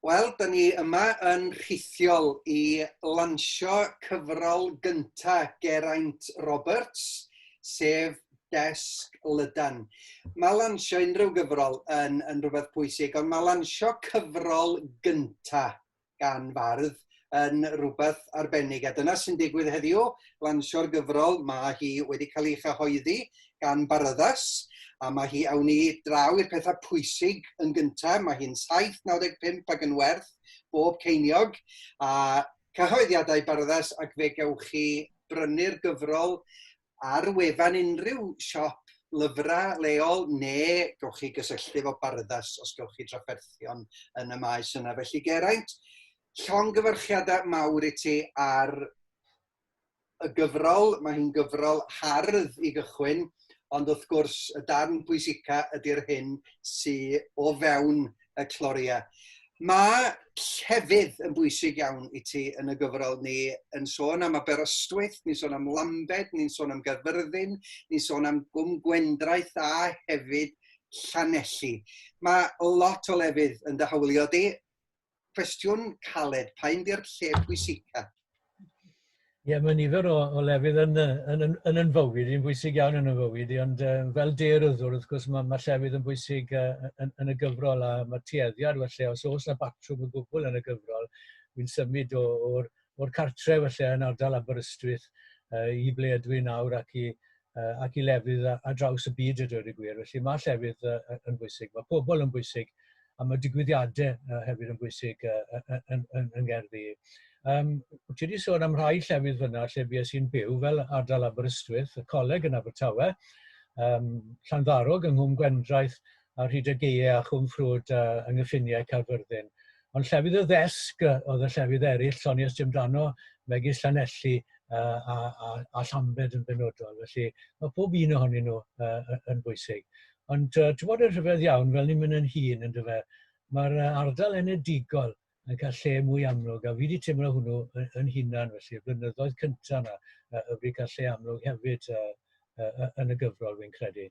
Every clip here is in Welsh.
Wel, da ni yma yn rhithiol i lansio cyfrol gynta Geraint Roberts, sef Desg Lydan. Mae lansio unrhyw gyfrol yn, yn rhywbeth pwysig, ond mae lansio cyfrol gynta gan fardd yn rhywbeth arbennig. A dyna sy'n digwydd heddiw, lansio'r gyfrol, mae hi wedi cael ei chyhoeddi gan Baraddas, a mae hi awn i draw i'r pethau pwysig yn gyntaf, mae hi'n 7.95 ac yn werth bob ceiniog, a cyhoeddiadau Baraddas ac fe gewch chi brynu'r gyfrol ar wefan unrhyw siop lyfrau leol neu gewch chi gysylltu efo Bardas os gewch chi drafferthion yn y maes yna. Felly Geraint, llongyfarchiadau mawr i ti ar y gyfrol, mae hi'n gyfrol hardd i gychwyn, ond wrth gwrs y darn pwysica ydy'r hyn sydd o fewn y cloria. Mae llefydd yn bwysig iawn i ti yn y gyfrol ni yn sôn am Aberystwyth, ni'n sôn am Lambed, ni'n sôn am Gyfyrddin, ni'n sôn am Gwm Gwendraeth a hefyd Llanelli. Mae lot o lefydd yn dy hawlio di. Cwestiwn caled, pa un di'r lle pwysica? Ie, mae nifer o, o lefydd yn, yn, yn, yn yn fywyd, yn bwysig iawn yn y fywyd, ond uh, fel deiryddwr, wrth gwrs, mae, mae llefydd yn bwysig uh, yn, yn, y gyfrol a mae tueddiad, felly, os oes yna batrwm y gwbl yn y gyfrol, wy'n symud o'r o'r cartre felly yn ardal Aberystwyth uh, i ble ydw i nawr ac i, uh, ac i lefydd a, a draws y byd ydw i gwir. Felly mae llefydd uh, yn bwysig, mae pobl yn bwysig, a mae digwyddiadau uh, hefyd yn bwysig uh, yn, yn, yn, yn gerddi. Um, ti wedi sôn am rhai llefydd fyna lle fi sy'n byw fel ardal Aberystwyth, y coleg yn Abertawe, um, Llanddarog yng Nghwm Gwendraeth, ar hyd y gaeau a Chwm Ffrwd a yng nghyffiniau Caerfyrddin. Ond llefydd y ddesg oedd y llefydd eraill, Lloni a Stumdano, megis Llanelli a, a, a, a Llambed yn benodol. Felly mae pob un ohonyn nhw uh, yn bwysig. Ond uh, ti'n bod yn rhyfedd iawn, fel ni'n mynd yn hun, yn dyfa, mae'r ardal enedigol yn cael lle mwy amlwg, a fi wedi teimlo hwnnw yn, yn hunan, felly, y blynyddoedd cyntaf yna, y wedi cael lle amlwg hefyd uh, uh, yn y gyfrol, fi'n credu.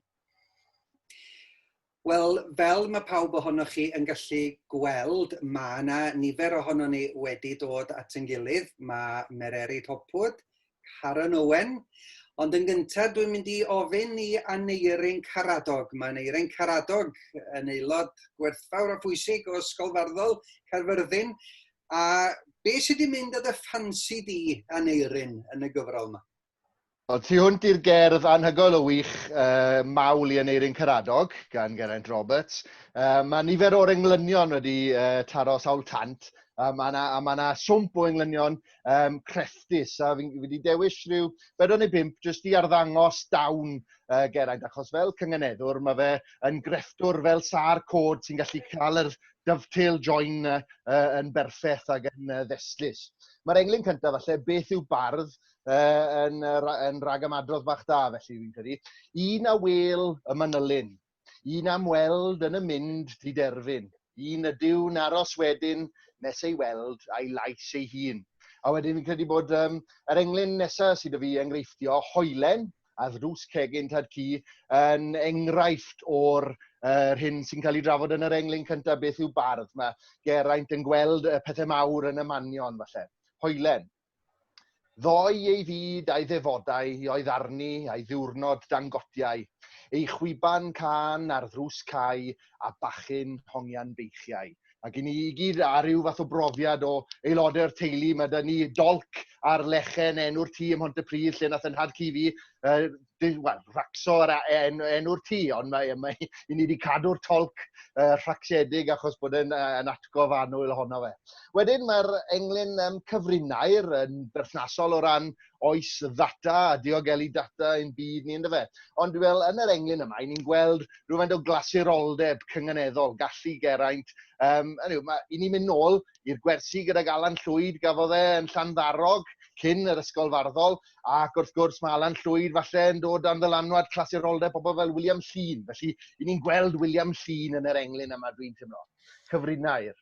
Wel, fel mae pawb ohonoch chi yn gallu gweld, mae yna nifer ohonon ni wedi dod at yn gilydd. Mae Mererid Hopwood, Karen Owen. Ond yn gyntaf, dwi'n mynd i ofyn i Aneurin Caradog. Mae Aneurin Caradog yn aelod gwerthfawr a phwysig o Ysgol Farddol Caerfyrddin. A be sydd wedi mynd â dy ffansi di, Aneurin, yn y gyfrol yma? Wel, tu hwnt i'r gerdd anhygoel o wych, uh, Mawl i Aneurin Caradog, gan Geraint Roberts, uh, mae nifer o'r englynion wedi uh, taro sawl tant, a mae yna ma, na swmp o englynion um, crefftus, a fi wedi dewis rhyw bedwn neu bimp jyst i arddangos dawn uh, Geraint, achos fel cynganeddwr mae fe yn grefftwr fel sa'r cod sy'n gallu cael yr dovetail join uh, yn berffeth ac yn uh, ddestlus. Mae'r englyn cyntaf falle beth yw bardd uh, yn, uh, yn rhag ymadrodd bach da, felly fi'n credu. Un a wel y manylyn, un am weld yn y mynd di derfyn, un ydyw'n aros wedyn nes ei weld a'i lais ei hun. A wedyn fi'n credu bod um, yr englyn nesaf sydd y fi enghreiffdio, hoelen, a ddrws cegin tad cu, yn enghraifft o'r uh, hyn sy'n cael ei drafod yn yr englyn cyntaf, beth yw bardd. Mae Geraint yn gweld y pethau mawr yn y manion, falle. Hoelen, Ddoe ei fyd a'i ddefodau i oedd arni a'i ddiwrnod dan gotiau, ei chwiban cân ar ddrws cau a bachyn hongian beichiau. Mae gen i i gyd a rhyw fath o brofiad o aelodau'r teulu. Mae da ni dolc ar lechen enw'r tŷ ym Mhontypridd lle nath 'y nhad-cu fi yy wel rhacso yr en, enw'r tŷ ond mae, mae i ni wedi cadw'r tolc uh, rhacsiedig achos bod e'n uh, yn atgof anwyl ohono fe. Wedyn mae'r englyn um, cyfrinair yn berthnasol o ran oes ddata a diogelu data yn byd ni ynddo fe. Ond fel yn yr englyn yma, ni'n gweld rhywfaint o glasuroldeb cynganeddol, gallu geraint. Um, anyway, mae, I ni'n mynd nôl i'r gwersi gydag Alan Llwyd, gafodd e yn Llanddarog, cyn yr ysgol farddol, ac wrth gwrs mae Alan Llwyd falle yn dod dan ddylanwad clasuroldeb pobl fel William Llun. Felly, i ni'n gweld William Llun yn yr englyn yma, dwi'n teimlo. Cyfrinair.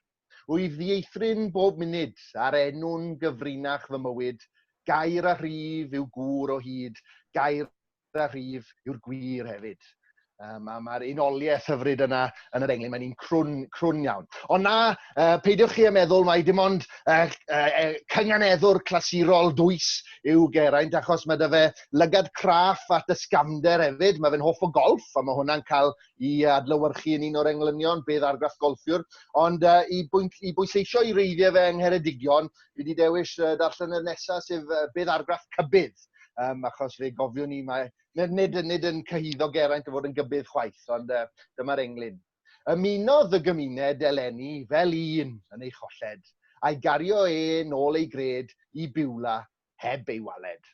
Rwy'n ddieithryn bob munud, a'r enw'n gyfrinach fy mywyd. Gair a rhif yw gŵr o hyd, gair a rhif yw'r gwir hefyd. Um, a mae'r unoliaeth hyfryd yna yn yr englyn, mae'n un crwn, crwn iawn. Ond na, uh, peidiwch chi a meddwl mai dim ond uh, uh, cynganeddwr clasurol dwys yw Geraint, achos mae dy fe lygad craff at ysgafnder hefyd. Mae fe'n hoff o golf, a mae hwnna'n cael i adlywyrchu yn un o'r englynion, bydd argraff golfiwr. Ond uh, i, bwynt, i bwysleisio i reiddiau fe yng Ngheredigion, Dwi wedi dewis uh, darllen y nesaf sef uh, bydd argraff cybydd, um, achos fe gofiwn ni mae nid, nid, nid yn cyhyddo Geraint o fod yn gybydd chwaith, ond uh, dyma'r englyn. Ymunodd y gymuned eleni fel un yn ei cholled, a'i gario e nôl ei gred i biwla heb ei waled.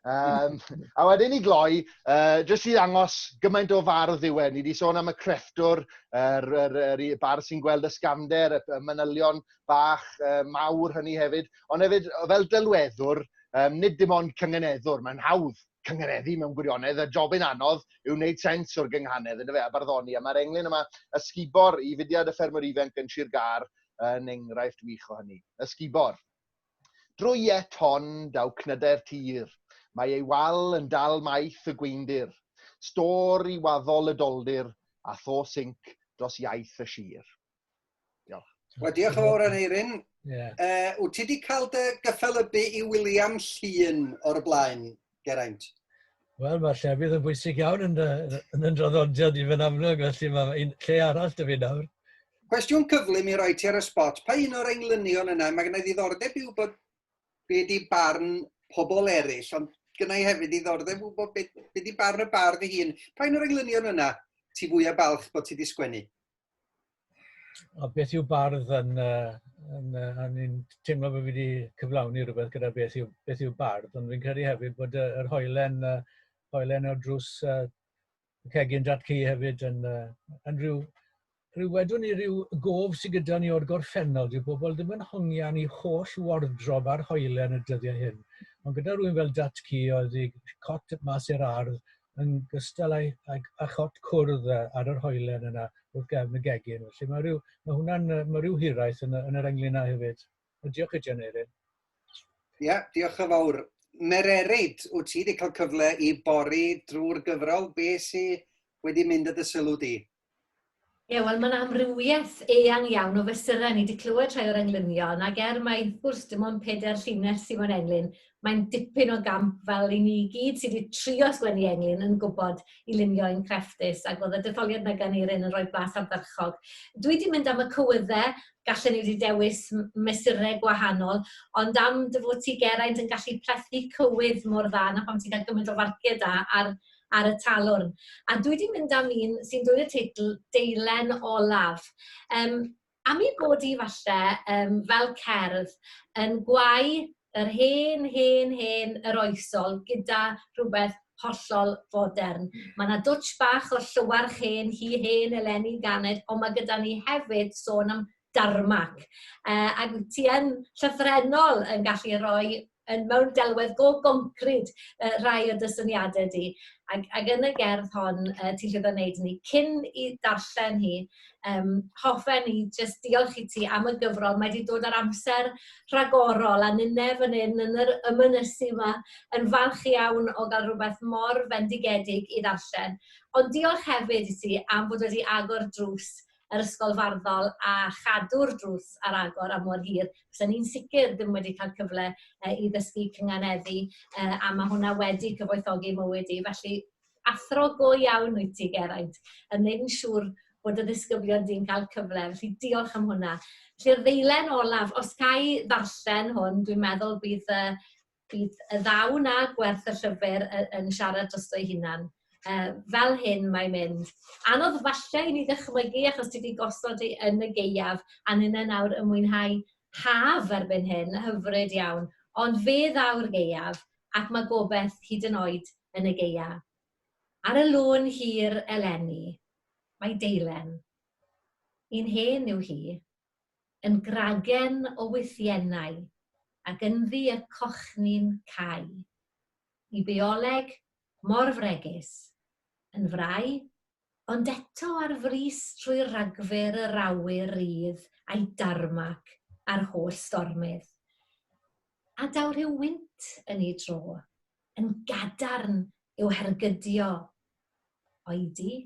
Um, a wedyn i gloi, uh, jyst i ddangos gymaint o fardd yw e. Ni wedi sôn am y crefftwr, yr, yr, yr, yr bar sy'n gweld y sgamder, y manylion bach uh, mawr hynny hefyd. Ond hefyd, fel delweddwr, um, nid dim ond cyngeneddwr, mae'n hawdd cyngeneddu mewn gwirionedd, y job yn anodd yw wneud sens o'r gynghanedd, yna fe, a barddoni. A mae'r englyn yma, ysgubor i fudiad y ffermwr ifanc yn Sir Gar, yn enghraifft wych o hynny. Ysgubor. Drwy iet hon daw cnydau'r tir, mae ei wal yn dal maeth y gweindir, stôr i waddol y doldir, a tho sync dros iaith y sir. Diolch. Wel, diolch yn fawr, Aneirin. Yeah. Uh, wyt ti wedi cael dy gyffelybu i William Llun o'r blaen? Geraint. Wel, mae llefydd yn bwysig iawn yn, yn yn draddodiad i fy'n amlwg, felly mae un lle arall dy fi nawr. Cwestiwn cyflym i roi ti ar y spot. Pa un o'r englynion yna? Mae gennau ddiddordeb i wybod be di barn pobl eraill, ond gennau hefyd ddiddordeb i wybod be, be di barn y bardd ei hun. Pa un o'r englynion yna ti fwyaf balch bod ti wedi sgwennu? A beth yw bardd yn, uh, yn, uh, yn, yn teimlo bod fi wedi cyflawni rhywbeth gyda beth yw, beth yw bardd, ond fi'n credu hefyd bod yr uh, hoelen, uh, hoelen o drws uh, cegin datcu hefyd yn, uh, yn rhyw, rhyw wedwn ni rhyw gof sydd gyda ni o'r gorffennol. Dyw bobl ddim yn hongian i holl wardrob ar hoelen y dyddiau hyn. Ond gyda rhywun fel datcu oedd ei cot mas i'r ardd, yn gystal â'i â'i â chot cwrdd yy ar yr hoelen yna wrth gefn y gegin. Felly mae ryw mae hwnna'n yy ma' ryw hiraeth yn y yn yr englyn 'na hefyd. A diolch i ti Aneurin. Ia, diolch yn fawr. Mererid, wyt ti wedi cael cyfle i bori drwy'r gyfrol? Be sy wedi mynd â dy sylw di? Ie, wel mae'n amrywiaeth eang iawn o fesurau. Ni wedi clywed rhai o'r englynion, ac er mai wrth gwrs dim ond pedair llinell sydd mewn englyn, mae'n dipyn o gamp fel i ni i gyd sydd wedi trio sgwennu englyn yn gwybod i lunio ein crefftus, ac oedd y detholiad yna gan Erin yn rhoi blas ardderchog. Dwi wedi mynd am y cywyddau, gallen ni wedi dewis mesurau gwahanol, ond am dy fod ti, Geraint, yn gallu plethu cywydd mor dda, na pham ti'n cael gymaint o farciau da ar ar y talwrn. A dwi 'di mynd am un sy'n dwyn y teitl 'Deilen Olaf'. Yym, am ei bod hi falle yym, fel cerdd, yn gwau yr hen, hen, hen yr oesol gyda rhywbeth hollol fodern. Mae yna dwtsh bach o'r Llywarch Hen, hi hen eleni ganed, ond mae gyda ni hefyd sôn am darmac. Uh, ac ti yn llyfrenol yn gallu rhoi yn mewn delwedd go goncrid uh, rai o dy syniadau di. Ac, ac yn y gerdd hon, uh, ti'n llwyddo wneud ni cyn i darllen hi, um, hoffen i jyst diolch i ti am y gyfrol. Mae wedi dod ar amser rhagorol a nynne fan hyn yn yr ymynysu yma yn falch iawn o gael rhywbeth mor fendigedig i ddarllen. Ond diolch hefyd i ti am bod wedi agor drws yr ysgol farddol a chadw'r drws ar agor am mor hir, bysen i'n sicr ddim wedi cael cyfle i ddysgu cynganeddu, a mae hwnna wedi cyfoethogi mywyd i. Felly, athro go iawn wyt ti, Geraint, yn gwneud yn siŵr bod y ddisgyblion di'n cael cyfle, felly diolch am hwnna. Felly'r ddeilen olaf, os ga i ddarllen hwn, dwi'n meddwl bydd Bydd y ddaw 'na, gwerth y llyfr, y- yn siarad drosto'i hunan. Yy, fel hyn mae'n mynd. Anodd falle i ni ddychmygu achos ti 'di gosod hi yn y gaeaf a ninne nawr yn mwynhau haf erbyn hyn, hyfryd iawn. Ond fe ddaw'r gaeaf ac mae gobeith hyd yn oed yn y gaea. Ar y lôn hir eleni, mae deilen. Un hen yw hi. Yn gragen o wythiennau, ac ynddi y cochni'n cau. Y bioleg, mor fregus. Yn frai, ond eto ar frys trwy ragfyr yr awyr rydd a'i darmac a'r holl stormydd. A daw rhyw wynt yn ei dro, yn gadarn i'w hergydio. Oedi?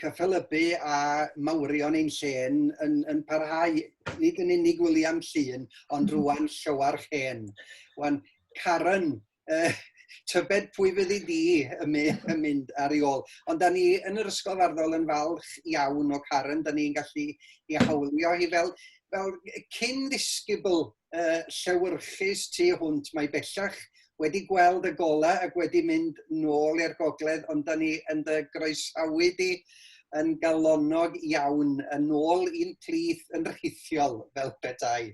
cyffelybu a mawrion ein lle yn, yn parhau, nid yn unig William Llun, ond mhm. rwan Llywarch Hen. Wan, Karen, uh, tybed pwy fydd i di yn mynd ar ei ôl. Ond da ni yn yr Ysgol Farddol yn falch iawn o Karen, da ni'n gallu i hawlio hi fel, fel cyn ddisgybl uh, llewyrchus tu hwnt. Mae bellach wedi gweld y gola ac wedi mynd nôl i'r gogledd, ond da ni yn dy groesawu di yn galonnog iawn, yn ôl i'n plith yn rhithiol fel petai.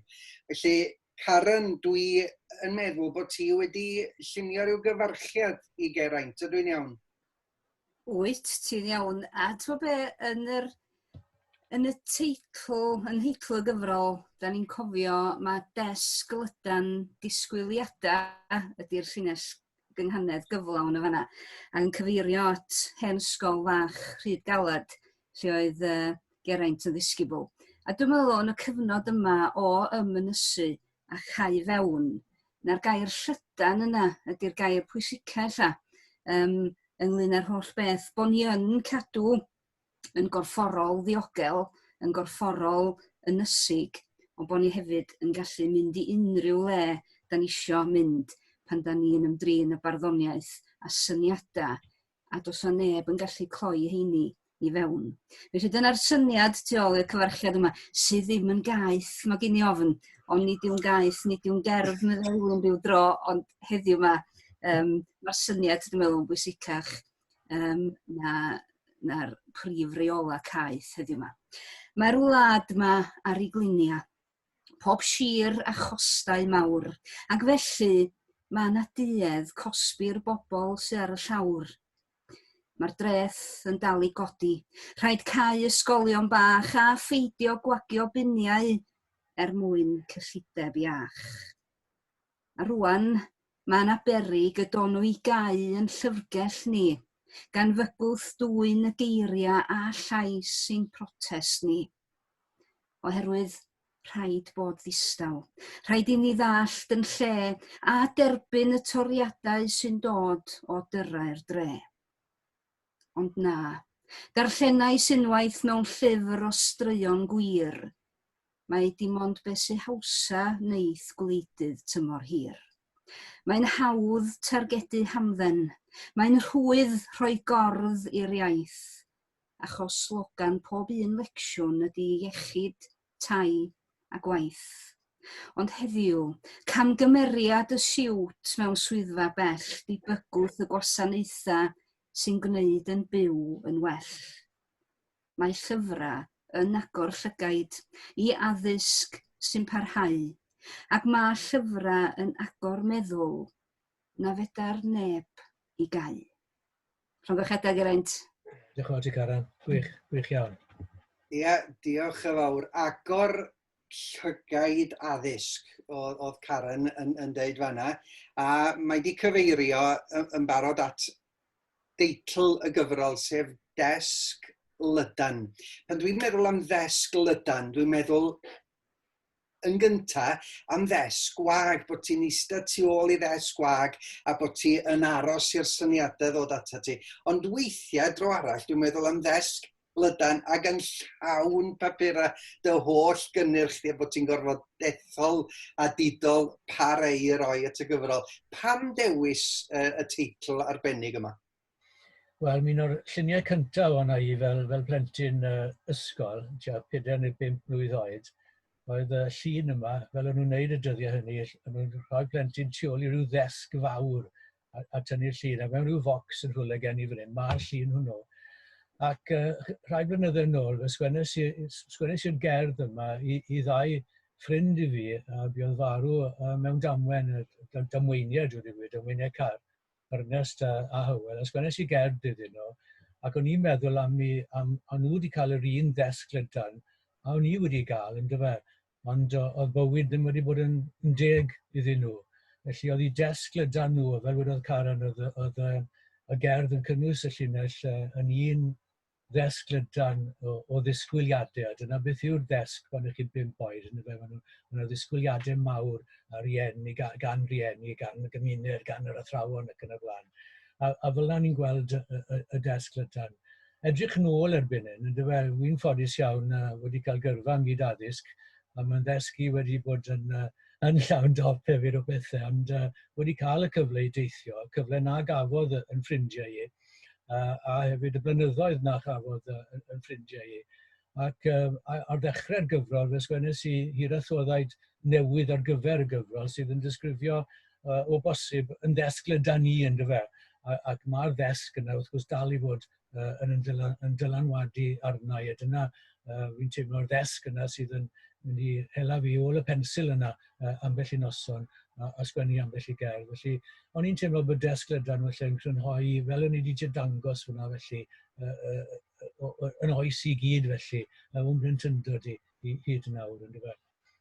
Felly, Karen, dwi yn meddwl bod ti wedi llunio rhyw gyfarchiad i Geraint, ydw i'n iawn? Wyt ti'n iawn. A ti'n be, yn yr, yn y teitl, yn heitl y gyfrol, da ni'n cofio mae desg lydan disgwyliadau ydy'r llinell gynghanedd gyflawn yn fanna. A'n cyfeirio at hen ysgol fach rhyd galad lle oedd uh, Geraint yn ddisgybl. A dwi'n meddwl yn y cyfnod yma o ymynysu a chau i fewn. Na'r gair llydan yna ydy'r gair pwysica ella um, ynglyn â'r holl beth, bod ni yn cadw yn gorfforol ddiogel, yn gorfforol ynysig, ond bod ni hefyd yn gallu mynd i unrhyw le da ni isio mynd pan da ni'n ymdrin y barddoniaeth a syniadau a does yna neb yn gallu cloi heini i fewn. Felly dyna'r syniad tu ôl i'r cyfarchiad yma, sydd ddim yn gaeth, mae gen i ofn, ond nid yw'n gaeth, nid yw'n gerdd meddyliwn byw dro, ond heddiw yma, um, mae'r syniad, dwi'n meddwl, yn bwysicach um, na'r na prif reola caeth heddiw yma. Mae'r wlad yma ar ei glinia, pob sir a chostau mawr, ac felly mae yna duedd cosbi'r bobl sy ar y llawr. Mae'r dreth yn dal i godi. Rhaid cau ysgolion bach a pheidio gwagio biniau er mwyn cyllideb iach. A rwan, mae yna berig y donu i gau yn llyfrgell ni, gan fygwth dwyn y geiriau a llais ein protest ni. Oherwydd rhaid bod ddistaw. Rhaid i ni ddallt yn lle a derbyn y toriadau sy'n dod o dyrrau'r dre. Ond na, darllenais unwaith mewn llyfr o straeon gwir, mae dim ond be sy hawsa wneith gwleidydd tymor hir. Mae'n hawdd targedu hamdden, mae'n rhwydd rhoi gordd i'r iaith, achos slogan pob un lecsiwn ydy iechyd, tai a gwaith. Ond heddiw, camgymeriad y siwt mewn swyddfa bell di bygwth y gwasanaethau sy'n gwneud yn byw yn well. Mae llyfrau yn agor llygaid i addysg sy'n parhau, ac mae llyfrau yn agor meddwl na fedar neb i gau. Llongychedau Geraint. Diolch yn fawr ti Caran, gwych, gwych iawn. Ia, diolch yn fawr. Agor llygaid addysg oedd, oedd Karen yn, yn deud fanna, a mae di cyfeirio yn barod at deitl y gyfrol, sef Desg Lydan. Pan dwi'n meddwl am ddesg lydan, dwi'n meddwl yn gynta am ddesg gwag, bod ti'n eistedd tu ôl i ddesg gwag a bod ti yn aros i'r syniadau ddod atat ti. Ond weithiau, dro arall, dwi'n meddwl am ddesg lydan ac yn llawn papurau dy holl gynnyrch di a bod ti'n gorfod dethol a didol pa rei i roi at y gyfrol. Pam dewis y teitl arbennig yma? Wel, un o'r lluniau cyntaf o'n i fel, fel plentyn uh, ysgol, tua 4 neu 5 mlwydd oed, oedd y llun yma, fel o'n nhw'n neud y dyddiau hynny, o'n nhw'n rhoi plentyn tu ôl i ryw ddesg fawr a, a tynnu'r llun, a mewn rhyw focs yn rhywle gen i fan hyn, mae'r llun hwnnw. Ac uh, rhai blynyddoedd yn ôl, sgwennes i'r gerdd yma i, i ddau ffrind i fi, a buodd farw uh, mewn damwen, damweiniau, dwi'n dweud, damweiniau car Ernest a, a Hywel, a sgwennes i gerdd iddyn nhw, ac o'n i'n meddwl am mi, am, o'n nhw wedi cael yr un ddesg lydan, a o'n i wedi gael, yn dyfa, ond oedd bywyd ddim wedi bod yn, yn deg iddyn nhw. Felly oedd i desg lydan nhw, fel wedodd Karen, oedd, oedd y, y gerdd yn cynnwys y llinell yn un ddesg lydan o, o ddisgwyliadau, a dyna beth yw'r ddesg pan ych chi'n bimp oed, yn y fe, mae yna ddisgwyliadau mawr a rieni, gan, gan rieni, gan y gymuned, gan yr athrawon ac yn y blaen. A, a fel yna ni'n gweld y, y, y desg lydan. Edrych yn ôl erbyn hyn, yn dyfa, wy'n ffodus iawn uh, wedi cael gyrfa ym myd addysg, a mae'n ddesgu wedi bod yn, uh, yn llawn dop hefyd o bethau, ond uh, wedi cael y cyfle i deithio, cyfle na gafodd yn ffrindiau i, uh, a hefyd y blynyddoedd na chafodd uh, yn, yn ffrindiau i. Ac um, ar ddechrau'r gyfrol, fe sgwennes i hirathoddaid newydd ar gyfer y gyfrol sydd yn disgrifio uh, o bosib yn ddesg le da ni yn dyfa. Ac mae'r ddesg yna wrth gwrs dal i fod uh, yn, dylan, yn dylanwadu arna i. A dyna uh, fi'n teimlo'r ddesg yna sydd yn mynd i hela fi ôl y pensil yna uh, ambell i noson a, a sgwennu ambell i gerdd. Felly, o'n i'n teimlo bod desg lydan felly yn crynhoi, fel o'n i wedi dangos hwnna felly, uh, uh, yn oes i gyd felly, uh, o'n bryn tyndod i, i hyd yn awr yn dyfa.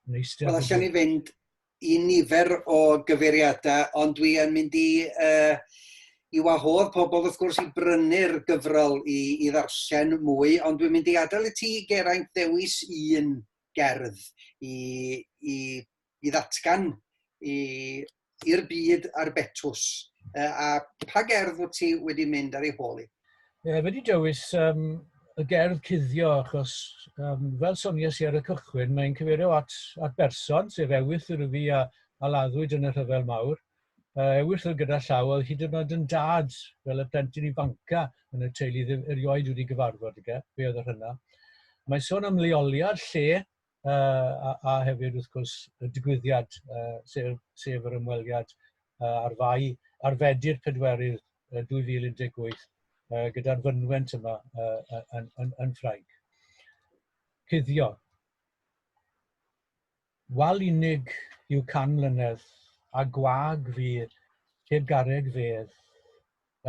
Wel, allan ni fynd i nifer o gyfeiriadau, ond dwi yn mynd i, uh, i wahodd pobl wrth gwrs i brynu'r gyfrol i, i ddarllen mwy, ond dwi'n mynd i adael i ti Geraint ddewis un gerdd i, i, i ddatgan i, i'r byd a'r betws. Uh, a pa gerdd wyt ti wedi mynd ar ei hôl i? Ie, wedi dewis um, y gerdd cuddio achos um, fel soniais i ar y cychwyn, mae'n cyfeirio at, at berson, sef Ewyth yr Yfi a, a laddwyd yn y rhyfel mawr. Mae Ewyll oedd gyda llaw, oedd hyd yn oed yn dad, fel y plentyn ifanca yn y teulu ddim erioed wedi gyfarfod, ige, fe oedd y rhynna. Mae sôn am leoliad, lle, uh, a, a hefyd, wrth gwrs, y digwyddiad, uh, sef, sef yr ymweliad uh, ar fai, ar fedi'r pedwerydd uh, 2018, uh, gyda'r fynwent yma uh, yn, yn, yn Ffrainc. Cuddio. Wal unig yw can mlynedd, a gwag fu heb garreg fedd,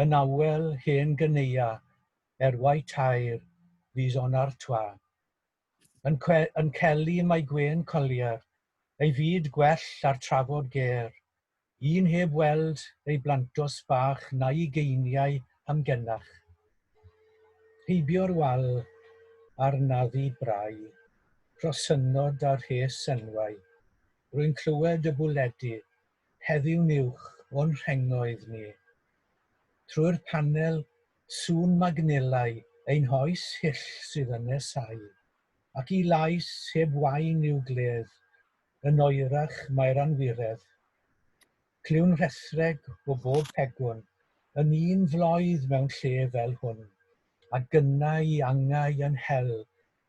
yn awel hen gyneua er wai tair fis onar twa. Yn cwe yn celi mae gwên collier ei fyd gwell ar trafod ger, Un heb weld ei blantos bach na'i geiniau hamgenach. Heibio'r wal a'r naddu brau, rhosynnod a rhes enwau. Rwy'n clywed y bwledi heddiw'n uwch o'n rhengoedd ni. Trwy'r panel, sŵn magnelau ein hoes hyll sydd yn nesáu. Ac i lais heb wain i'w gledd, Yn oerach mae'r anwiredd. Clywn rhethreg o bob pegwn yn un floedd mewn lle fel hwn, a gynnau angau yn hel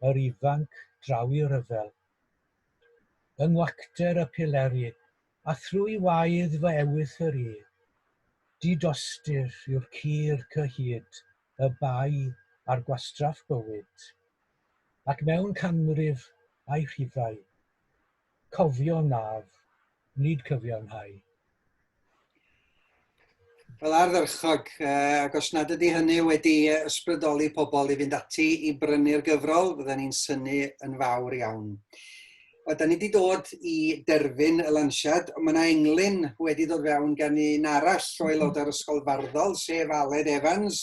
yr ifanc draw i ryfel. Yng ngwacter y pileri, a thrwy waedd fy ewythr yr i, di-dostyr yw'r cur cyhyd y bai ar gwastraff bywyd. ac mewn canrif a'i rhifau, cofio naf, nid cyfiawnhau. Fel ardderchog, ac os nad ydy hynny wedi ysbrydoli pobl i fynd ati i brynu'r gyfrol, fydden ni'n synnu yn fawr iawn. O, da ni wedi dod i derfyn y lansiad. Mae yna englyn wedi dod fewn gan un arall o aelodau'r Ysgol Farddol, sef Aled Evans.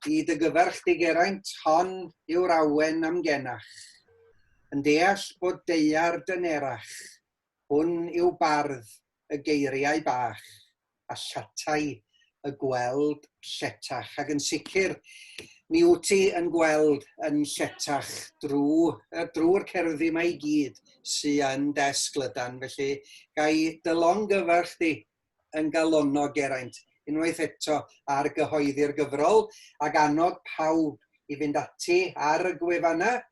I dy gyfarch di Geraint, hon yw'r awen am genach. Yn deall bod deiar dynerach, hwn yw bardd y geiriau bach. asiantaethau y gweld lletach ac yn sicr mi wyt ti yn gweld yn lletach drwy drwy'r cerddi yma i gyd sy yn dy esglydan felly ga i dy longyfarch di yn galonnog Geraint unwaith eto ar gyhoeddi'r gyfrol ac annog pawb i fynd ati ar y gwefannau